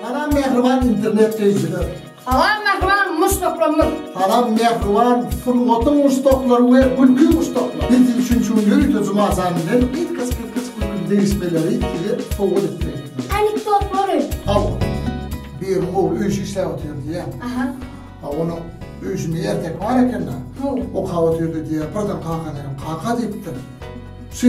Salam mähriban internet söýüjiler. Salam mähriban muşdaklarymyz. Salam mähriban sungatyň muşdaklary we gülki muşdaklary. Biz siz üçin şu ýörite juma jan bilen gysgaç gysgaç gülki degişmeleri size sowgat etmek. Anekdotlary. Hawa. Biriň ogly öý işi işläp otyr diýýä. Aha. A onuň öý işinde erkek bar eken-de. Hawa. Okap otyrdy diýýä. Birden kakana, kaka diýipdir. Şu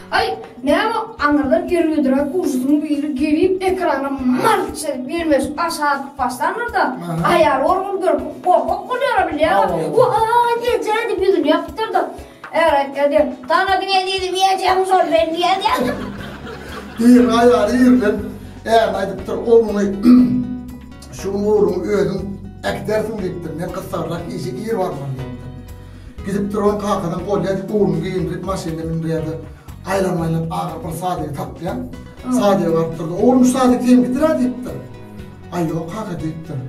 Aý, näme aňyrdan gergä duran ujysyň biri gelip, ekrana malt çenip gelmeş aşa atyp başlandyr-da, aýaly onuň görüp, gorkak bolýar-a bilýäň-ä, Wa-aý, eje! diýip ýüzüni ýapypdyr-da, Är aýtýar diýen, Tanadyň ezizimi, ejem şol men diýýär diýen. Ýerine aýaly ýerlenip, ärine aýdypdyr, Ogluňy şu gün ogluňy özüň äkidersiň diýipdir, men gyssagyrak işe ir barmaly diýipdir. Gidip duran kakadan polya edip uruny geýindirip maşynyna mündirýärdi. Aýlanyp aýlanyp ahyry bir sadygy tapdyýar. Sadyga baryp durdy. Oglum şu sadyk senikidirä diýipdir. Aý ýok kaka diýipdir.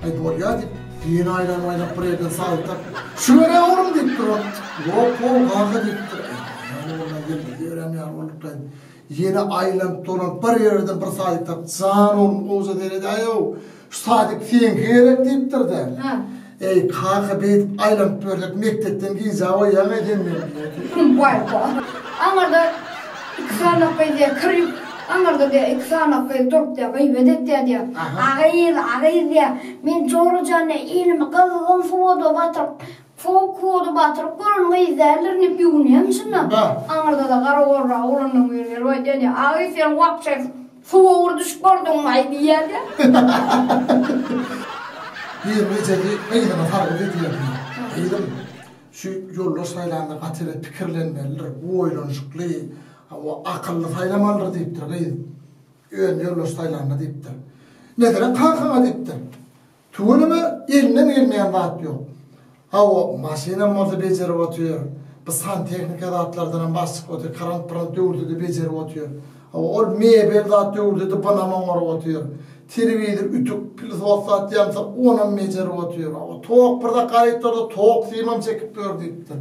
Aý bolýa diýip, ýene aýlanyp aýlanyp bir ýerden sadyk tapyp, Şu görä oglum diýipdir ol. Ýok gowy kaka diýipdir. Aý ýok onda gelmez diýiberem ýaly boldukkaýn. Ýene aýlanyp dolanyp bir ýererden bir sadyk tapyp, Jan oglum gowja seredäýow. Şu sadyk seňki gerek diýipdir-de. Hä. Eý, kaka, beýdip aýlanyp ýörsek mekdepden gijä oýýaňa sen meni. Waý-ba. Aňyrda iki sanak gyz-ä kir ýuwup, aňyrda diýýär, iki sanak gyz durup-da gyýbat etýär diýýär. A gyz, a gyz diýýär, men Jora jany elimi gyzgyn suwada batyryp, sowuk suwada batyryp gören gyz däldirin diýip ýuwunýarmyşyn-da. Aňyrda-da gara gorragy ulandan biri gelip aýdýar diýýär, A gyz, sen wapşe. Suwa ugur düşüp gördüňmi-aý diýýär-de. Bir gijeki gyzyna sargyt edýärdi. Gyzym, şu ýoldaş saýlanda gaty bir pikirlenmelidir, bu oýlanyşykly, hawa, akylly saýlamalydyr diýipdir gyz. Özüni ýoldaş saýlanda diýipdir. Megerem kakaň-a diýipdir. Tüweleme elinden gelmeýän zat ýok. Hawa, maşynam bolsa bejerip otyr. Bu santehnika zatlardanam baş çykyp otyr. Krant-mrant döwürde-de bejerip otyr. Hawa, ol mebel zat döwürde-de bunam oňaryp otyr. Telewizor, ütük, pilsot zat ýansa onam bejerip otyr. Hawa, tok birde gaýytlarda tok simam çekip ýör diýipdir.